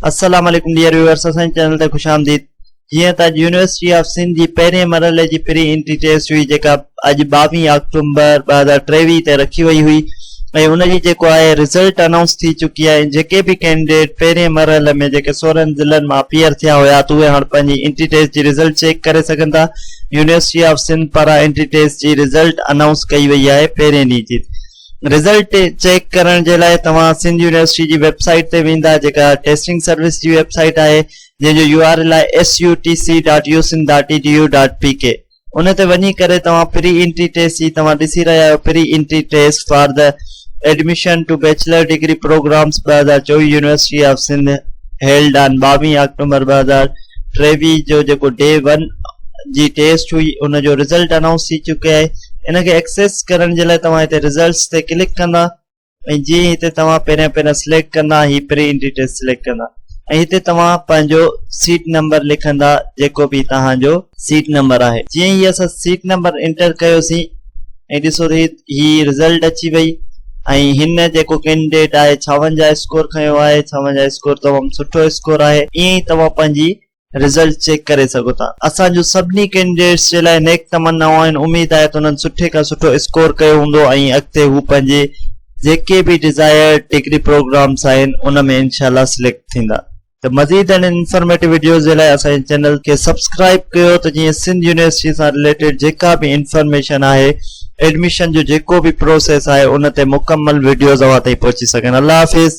السلام عليڪم dear viewers اسان جي چينل تي خوش آمديد جيئن ته اڄ يونيورسٽي آف سنڌ جي پهرين مرحلي جي پري انٽري ٽيسٽ هئي جيڪا اڄ ٻاويهه آڪٽومبر ٻه هزار ٽيويهه تي رکي وئي هئي ۽ ان جي جيڪو آهي رزلٽ انائونس ٿي چڪي آهي جيڪي به ڪينڊيڊيٽ پهرين مرحلي ۾ جيڪي سورن ضلعن مان اپيئر ٿيا هيا ته اهي هاڻ پنهنجي انٽري ٽيسٽ جي رزلٽ چيڪ ڪري سگهن ٿا يونيورسٽي آف سنڌ پاران انٽري ٽيسٽ جي رزلٽ انائونس ڪئي وئي آهي پهرين ڏينهن جي رزلٽ چيڪ ڪرڻ جي لاء توهان سنڌ يونيورسٽي جي ويب سائيٽ تي ويندا جيڪا ٽيسٽنگ سروس جي ويب سائيٽ آهي جنهن جو يو آر ايل آهي S U T C dot U Sindh dot E D U dot P K ان تي وڃي ڪري توهان پري انٽري ٽيسٽ جي توهان ڏسي رهيا آهيو pre entry test for the admission to bachelor degree programs ٻه هزار چوويهه university of Sindh held on ٻاويهه آڪٽومبر ٻه هزار ٽيويهه جو جيڪو ڊي ون جي ٽيسٽ هئي ان جو رزلٽ انائونس ٿي چڪي آهي ان کي ايڪسيس ڪرڻ جي لاء توهان هتي رزلٽس تي ڪلڪ ڪندا ۽ جيئن هتي توهان پهريان پهريان سليڪٽ ڪندا هي پري انٽري ٽيسٽ سليڪٽ ڪندا ۽ هتي توهان پنهنجو سيٽ نمبر لکندا جيڪو به توهان جو سيٽ نمبر آهي جيئن هي اسان سيٽ نمبر انٽر ڪيوسين ۽ ڏسو ته هي هي رزلٽ اچي وئي ۽ هن جيڪو ڪينڊيڊيٽ آهي ڇاونجاهه اسڪور کنيو آهي ڇاونجاهه اسڪور تمام سٺو اسڪور آهي ائين ئي توهان پنهنجي رزلٽ چيڪ ڪري سگهو ٿا اسان جون سڀني ڪينڊيڊيٽس جي لاء نيڪ تمنائون آهن اميد آهي ته انهن سٺي کان سٺو اسڪور ڪيو هوندو ۽ اڳتي هو پنهنجي جيڪي به ڊزائرڊ ڊگري پروگرامس آهن ان ۾ انشاء الله سليڪٽ ٿيندا ته مزيد اهڙين انفارميٽو وڊيوز جي لاء اسان جي چينل کي سبسڪرائيب ڪيو ته جيئن سنڌ يونيورسٽي سان رليٽيڊ جيڪا به انفارميشن آهي ايڊميشن جو جيڪو به پروسيس آهي ان تي مڪمل وڊيوز اوهان تائين پهچي سگهن الله حافظ